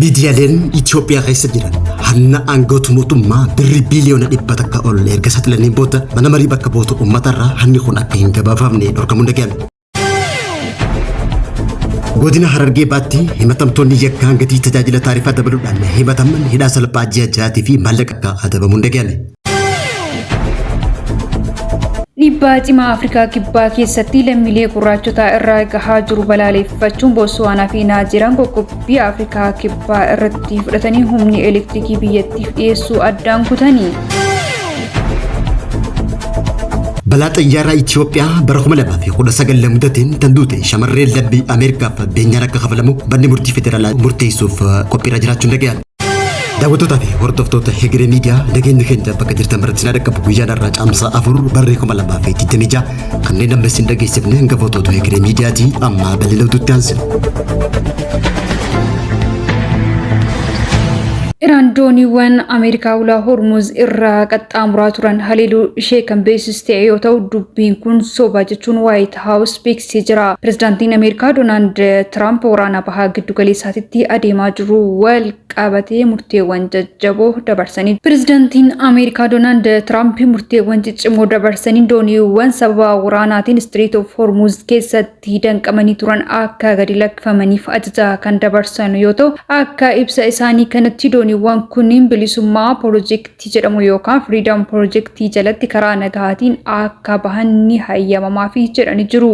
Miidiyaaleen Itoophiyaa keessa jiran hanna aangoota mootummaa birrii biiliyoona dhibba takka ol erga saaxilaniin booda mana marii bakka bu'oota uummatarraa hanni kun akka hin gabaafamne dhorkamuu dhaga'ame. Godina Harargee baatti himatamtoonni yakkaan gatii tajaajila taarifaa dabaluudhaan himataman hidhaa salphaa ji'a ja'aatii fi maallaqa akka adabamuun dhaga'ame. Dhiibbaa cimaa Afrikaa Kibbaa keessatti lammiilee gurraachotaa irraa gahaa jiru balaaleffachuun Bootsuwaanaa fi Naajeeriyaan qoqqobbii Afrikaa Kibbaa irratti fudhatanii humni elektirikii biyyattiif dhiyeessuu addaan kutanii. Balaa xayyaaraa Itiyoophiyaa bara 2019 mudateen tan duute shamarreen lammii Ameerikaaf beenyaan akka kafalamu manni murtii federaalaa murteessuuf qophiirra jiraachuun dhaga'ame. Daawwattootaa fi hordoftoota Hegeree Miidiyaa nageenyi keenya bakka jirtan biratti na dhaqqabu guyyaa har'aa caamsaa afur barree kuma lamaa fi digdamii ja'a kanneen amma isin dhageessifne hanga footootu Hegeree Miidiyaati amma bal'ina utuutti aansina. Iraan dooniiwwan Ameerikaa ulaa Hormuz irraa qaxxaamuraa turan haleeluu ishee kan beeksiste yoo ta'u dubbiin kun soba jechuun waayita. Waayit Haawus beeksisee jira. Pirezidaantiin Ameerikaa Doonaald Tiraamp waraana bahaa giddugaleessaatitti adeemaa jiru wal qabatee murteewwan jajjaboo dabarsanii. Pirezidaantiin Ameerikaa Doonaald Tiraamp murteewwan ciccimoo dabarsanii dooniiwwan sababa waraanaatiin Istiriit of Hormuuz keessatti danqamanii turan akka gadi lakkifamaniif ajaja kan dabarsan yoo ta'u, akka ibsa isaanii kanatti dooniiwwan kunniin bilisummaa pirojektii ti jedhamu yookaan Freedom Project jalatti karaa nagahaatiin akka bahan ni hayyamamaafi jedhani jiru.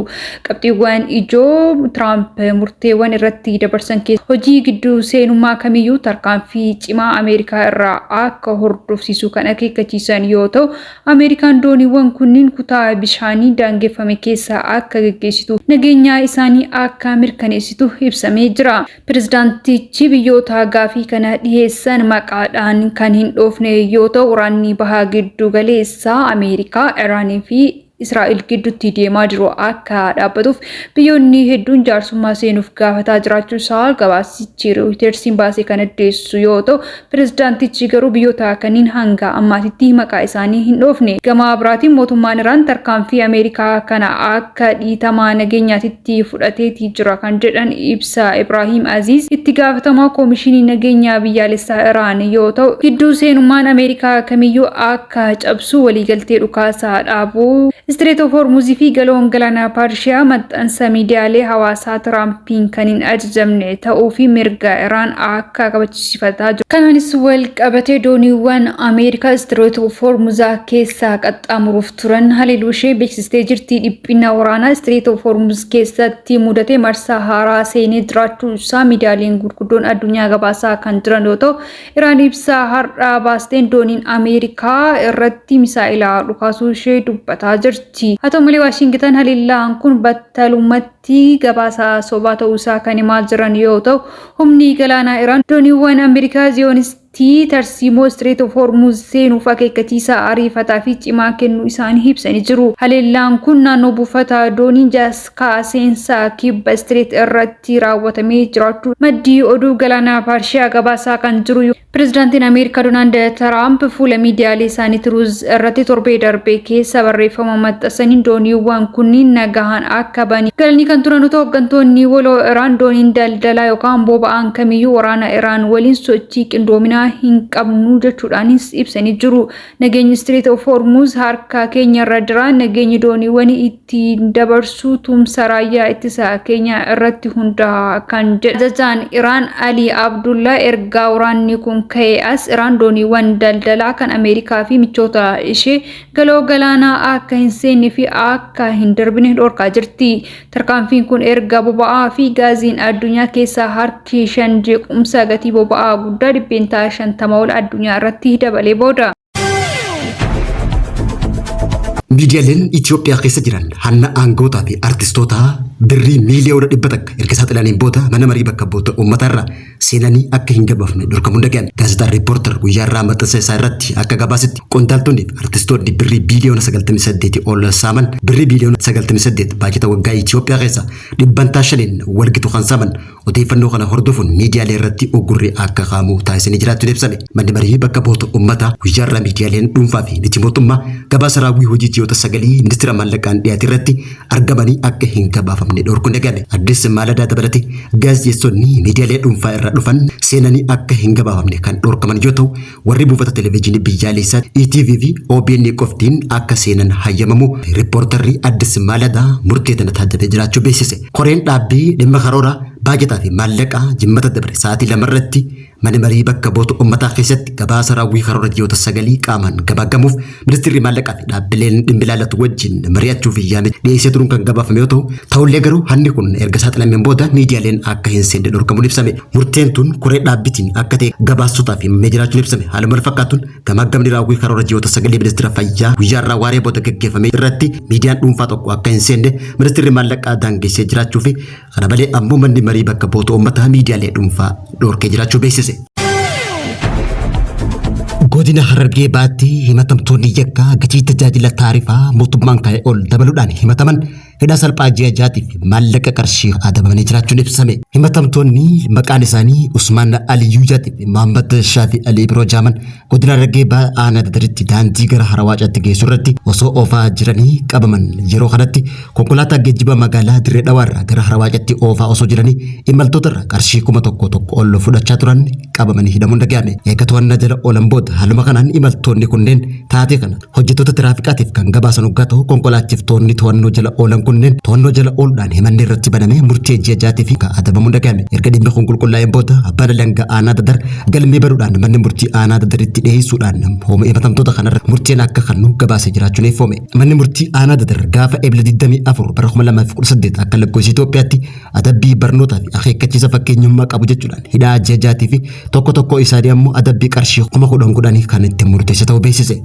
Qabxiiwwan ijoo Tiraamp murteewwan irratti dabarsan keessaa hojii gidduu seenummaa kamiyyuu tarkaanfii cimaa Ameerikaa irraa akka hordofsiisu kan akeekkachiisan yoo ta'u, Ameerikaan dooniiwwan kunniin kutaa bishaanii daangeffame keessa akka geggeessituu fi nageenyaa isaanii akka mirkaneessitu ibsamee jira. Pirezidaantichi biyyoota gaafii kana dhiheessan maqaadhaan kan hin dhoofne yoo ta'u, waraanni baha giddu galeessaa Ameerikaa, Iraan fi Israa'el gidduutti deemaa jiru akka dhaabbatuuf biyyoonni hedduun jaarsummaa seenuuf gaafataa jiraachuu isaa gabaasichi Rooyitersiin baase kan addeessu yoo ta'u, Pirezidaantichi garuu biyyoota kanniin hanga ammaatitti maqaa isaanii hin dhoofne. Gama biraatiin mootummaan Iraan tarkaanfii Ameerikaa kana akka dhiitamaa nageenyaatitti fudhateeti jira kan jedhan ibsa Ibraahiim Aziiz itti gaafatamaa Koomishinii Nageenya Biyyaalessaa Iraan yoo ta'u, gidduu seenummaan Ameerikaa kamiyyuu akka cabsu waliigaltee dhukaasa dhaabuu Istireet of Hormuuz fi Galaoon Galaana Parshiyaa maxxansa miidiyaalee hawaasaa Tiraampiin kan hin ajajamne ta'uu fi mirga Iraan akka kabachiisan taasisifataa jiru. Kanaanis walqabatee dooniiwwan Ameerikaa Istireet of Hormuzaa keessaa qaxxaamuruuf turan haleeluu ishee beeksistee jirti. Dhiphina waraanaa Istireet of Hormuz keessatti mudate marsaa haaraa seenee jiraachuu isaa miidiyaaleen gurguddoon addunyaa gabaasaa kan jiran yoo ta'u, Iraan ibsa har'aa baasteen dooniin Ameerikaa irratti misaa'ela dhukaasuu ishee dubbataa jirti. Haa ta'u malee Waashingitan haleellaan kun battalumatti ti gabaasa sobaa ta'uu isaa kan himaa jiran yoo ta'u, humni galaanaa Iraan dooniiwwan Ameerikaa Ziyonistii tarsiimoo Strait of Hormuz seenuuf akeekkachiisa ariifataa fi cimaa kennuu isaanii ibsanii jiru. Haleellaan kun naannoo buufata doonii Jaskaa seensa kibba Strait irratti raawwatamee jiraachuu maddi oduu galaana Parshiyaa gabaasaa kan jiru yoo. Pirezidaantiin Ameerikaa Doonaald Tiraamp fuula miidiyaalee isaanii Tiruuz irratti torbee darbee keessa barreeffama maxxansaniin dooniiwwan kunniin nagahaan akka ba'anii galanii kan turan yoo ta'u, hooggantoonni waloo Iraan dooniin daldalaa yookaan boba'aan kamiyyuu waraana Iraan waliin sochii qindoominaa hin qabnu jechuudhaanis ibsanii jiru. Nageenyi Strait of Hormuz harka keenyarra jira, nageenyi dooniiwwanii ittiin dabarsuu tumsa raayyaa ittisa keenyaa irratti hundaa'a kan jedhe ajajaan Iraan Alii Abdullaa ergaa waraanni kun ka'ee as Iraan dooniiwwan daldalaa kan Ameerikaa fi michoota ishee galoo galaanaa akka hin seenne fi akka hin darbine dhorkaa jirti. Tarkaanfiin kun erga boba'aa fi gaaziin addunyaa keessaa harki shan jeequmsa gatii boba'aa guddaa dhibbeentaa shantama ol addunyaa irratti dabalee booda. Miidiyaaleen Itoophiyaa keessa jiran hanna aangootaa fi artistootaa birrii miiliyoona dhibba takka erga saaxilaniin booda mana marii bakka bu'oota uummataa irraa seenanii akka hin gabaafne dhorkamuun dhaga'ame. Gaazexaan Riippoortar guyyaa irraa maxxansa isaa irratti akka gabaasetti qondaaltonni fi artistoonni birrii biiliyoona 98 ol saaman birrii biiliyoona 98 baajata waggaa Itoophiyaa keessa dhibbantaa shaniin walgitu kan saaman Odeeffannoo kana hordofuun miidiyaalee irratti uggurri akka kaa'amu taasisanii jiraachuun ibsame. Manni Marii Bakka Bu'oota Ummataa guyyaarraa miidiyaaleen dhuunfaa fi miti mootummaa gabaasa raawwii hojii ji'oota sagalii Ministeera Maallaqaan dhiyaate irratti argamanii akka hin gabaafamne dhorkuun eegale. Addis Maaladaa dabalatee gaazexeessonni miidiyaalee dhuunfaa irraa dhufan seenanii akka hin gabaafamne kan dhorkaman yoo ta'u, Warri buufata televijiinii biyyaaleessaa ETV fi OBN qoftiin akka seenan hayyamamu rippoortarri Addis Maalada murtee tana taajjabee jiraachuu beeksise. Koreen dhaabbii dhimma karoora, baajataa fi maallaqaa Jimmata dabre sa'aatii lama irratti Mana Marii Bakka Bu'oota Ummataa keessatti gabaasa raawwii karoora ji'oota sagalii qaamaan gamaaggamuuf Ministirri Maallaqaa fi dhaabbileen dhimmi ilaallatu wajjin mari'achuu fi yaamicha dhiyeessee turuun kan gabaafame yoo ta'u, ta'ullee garuu hanni kun erga saaxilameen booda miidiyaaleen akka hin seenne dhorkamuun ibsame. Murteen tun koree dhaabbitiin akka ta'e gabaastotaaf himamee jiraachuun ibsame. Haaluma walfakkaatuun gamaaggamni raawwii karoora ji'oota sagalii Ministira Fayyaa guyyaa irraa waaree booda gaggeeffame irratti miidiyaan dhuunfaa tokko akka hin seenne Ministirri Maallaqaa daangessee jiraachuu fi Kana malee ammoo manni marii bakka bu'oota uummataa miidiyaalee dhuunfaa dhorkee jiraachuu beeksise. Godina Harargee baatti himatamtoonni yakkaa gatii tajaajila taarifaa mootummaan kaa'e ol dabaluudhaan himataman hidhaa salphaa ji'a jaatiif maallaqa qarshii adabamanii jiraachuun ibsame. Himatamtoonni maqaan isaanii Usmaan Aliyyuu Jaatiif Mahammad Shaafii Alii Biroo Jaaman Godina Harargee Bahaa Aanaa Dadaritti daandii gara Harawaacaatti geessu irratti osoo oofaa jiranii qabaman. Yeroo kanatti konkolaataa geejjibaa magaalaa Dirree Dhawaa irraa gara Harawaacaatti oofaa osoo jiranii imaltoota irraa qarshii kuma tokko tokko ol fudhachaa turan qabamanii hidhamuun dhaga'ame. Eega to'annaa jala oolan booda haaluma kanaan imaltoonni kunneen taatee kana Hojjettoota tiraafiqaatiif kan gabaasan oggaa ta'u konkolaachiftoonni to'annoo jala oolan kunneen to'annoo jala ooludhaan himanni irratti banamee murtee ji'a jaatii fi ka adabamuun dhaga'ame. Erga dhimmi kun qulqullaa'een booda abbaan alangaa aanaa dadar galmee banuudhaan manni murtii aanaa dadaritti dhiyeessuudhaan hooma himatamtoota kanarra murteen akka kannu gabaasee jiraachuun eeffoome. Manni murtii aanaa dadar gaafa Ebla 24 bara 2018 akka lakkoofsa Itoophiyaatti adabbii barnootaa fi akeekkachiisa fakkeenyummaa qabu jechuudhaan hidhaa ji'a jaatii fi tokko tokkoo isaanii ammoo adabbii qarshii kuma kudhan kudhanii kan itti murteesse ta'uu beeksise.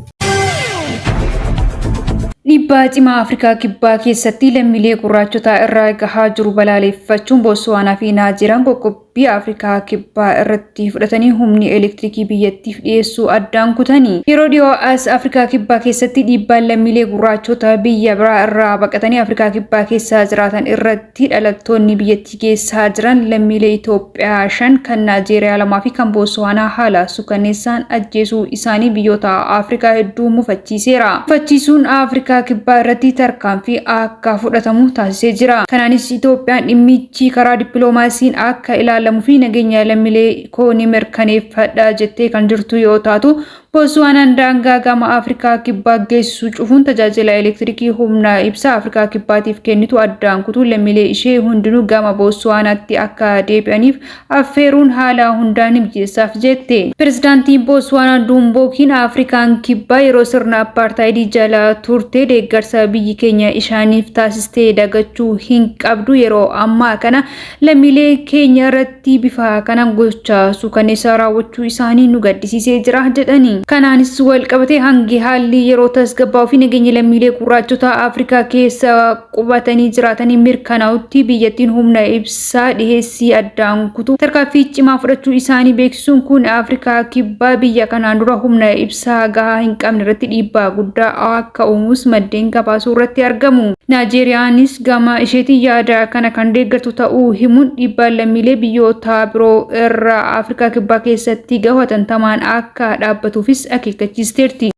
Dhiibbaa cimaa Afrikaa Kibbaa keessatti lammiilee gurraachotaa irraa gahaa jiru balaaleffachuun Bootsuwaanaa fi Naajeeriyaan qoqqobbii Afrikaa Kibbaa irratti itti fudhatanii humni elektirikii biyyattiif dhiyeessuu addaan kutani. Yeroo dhiyoo as Afrikaa Kibbaa keessatti dhiibbaan lammiilee gurraachota biyya biraa irraa baqatanii Afrikaa Kibbaa keessa jiraatan irratti dhalattoonni biyyattii geessaa jiran lammiilee Itoophiyaa shan, kan Naajeeriyaa lamaa fi kan Bootsuwaanaa haala suukanneessaan ajjeesuu isaanii biyyoota Afrikaa hedduu mufachiiseera. Mufachiisuun Afrikaa Kibbaa irratti tarkaanfii akka fudhatamu taasisee jira. Kanaanis Itoophiyaan dhimmi. Dhimmichi karaa dippiloomaasiin akka ilaalamu fi nageenya lammilee koo ni mirkaneeffadha jettee kan jirtu yoo taatu, Bootsuwaanaan daangaa gama Afrikaa Kibbaa geessu cufuun tajaajila elektirikii humna ibsaa Afrikaa Kibbaatiif kennitu addaan kutuun lammilee ishee hundinuu gama Bootsuwaanaatti akka deebi'aniif affeeruun haalaa hundaa ni mijeessaaf jette. Pirezidaantiin Booswaanaa Duumbookiin Afrikaan Kibbaa yeroo sirna Appaartaayidii jala turte deeggarsa biyyi keenya ishaaniif taasiste dagachuu hin qabdu yeroo ammaa kana lammiilee keenya irratti bifa kana gocha suukanneessaa raawwachuu isaanii nu gaddisiisee jira jedhani. Kanaanis walqabatee hangi haalli yeroo tasgabbaa'uu fi nageenyi lammiilee gurraachotaa Afrikaa keessa qubatanii jiraatanii mirkanaa'utti biyyattiin humna ibsaa dhiheessii addaan kutuu tarkaaffii cimaa fudhachuu isaanii beeksisuun kun Afrikaa Kibbaa biyya kanaan dura humna ibsaa gahaa hin qabne irratti dhiibbaa guddaa akka uumuus maddeen gabaasuu irratti argamu. Naajeeriyaanis gama isheetiin yaada kana kan deeggartu ta'uu himuun dhiibbaan lammiilee biyyoota biroo irra Afrikaa Kibbaa keessatti gahu hatantamaan akka akka dhaabbatuufis akeekkachiisteerti.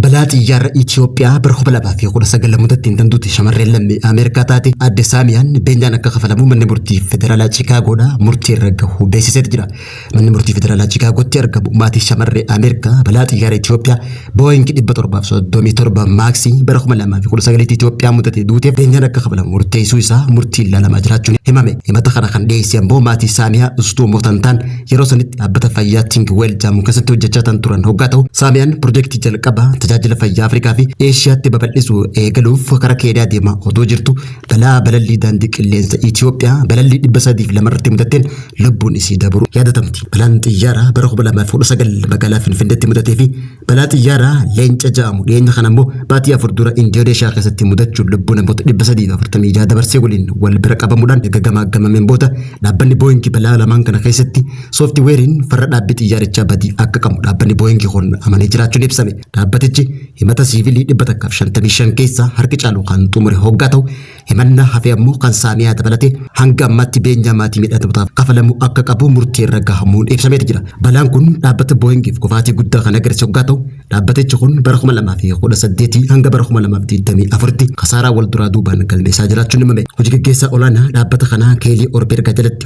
Balaa xiyyaarra Itiyoophiyaa bara 2019 mudateen kan duute shamarreen lammii Ameerikaa taate aadde Saamiyaan beenyaan akka kafalamu manni murtii federaalaa Chiikaagoodhaa murtii irra gahuu beeksiseet jira. Manni murtii federaalaa Chiikaagootti argamu maatii shamarree Ameerikaa balaa xiyyaara Itiyoophiyaa Booying 737 maaksii bara 2019tti Itoophiyaa mudatee duuteef beenyaan akka kafalamu murteessuu isaa murtiin ilaalamaa jiraachuun himame. Himata kana kan dhiyeesse ammoo maatii Saamiyaa Ustuumoo kan ta'an yeroo sanitti dhaabbata fayyaa Tingwell jedhamu keessatti hojjechaa kan turan hoggaa ta'u Saamiyaan pirojektii jalqabaa tajaajila fayyaa Afrikaa fi Eeshiyaatti babal'isuu eegaluuf karaa Keeniyaa deemaa otoo jirtu Balaa balallii daandii qilleensa Itiyoophiyaa balallii 302 irratti mudateen lubbuun isii dabruu yaadatamti. Balaan xiyyaaraa bara 2019 magaalaa Finfinneetti mudatee fi balaa xiyyaaraa leenca ja'amu dhiyeenya kana immoo baatii afur dura Indooneeshiyaa keessatti mudachuun lubbuu namoota 346 dabarsee waliin wal bira qabamuudhaan erga gamaaggamameen booda dhaabbanni Booyingi balaa lamaan kana keessatti sooftiweeriin farra dhaabbii xiyyaarichaa badii akka qabu dhaabbanni Booyingi kun amanee jiraachuun ibsame. Dhaabbatichi Himata siivilii 155 keessaa harki caalu kan xumure hoggaa ta'u, himannaa hafe ammoo kan Saamiyaa dabalatee hanga ammaatti beenyaa maatii miidhamtootaaf kafalamuu akka qabu murtii irra gahamuun ibsameeti jira. Balaan kun dhaabbata Booyingiif kufaatii guddaa kan agarsiise hoggaa ta'u, dhaabbatichi kun bara 2018 hanga bara 2024tti kasaaraa wal duraa duubaan galmeessaa jiraachuun himame. Hoji gaggeessaa olaanaa dhaabbata kanaa Keelii Orbergaa jalatti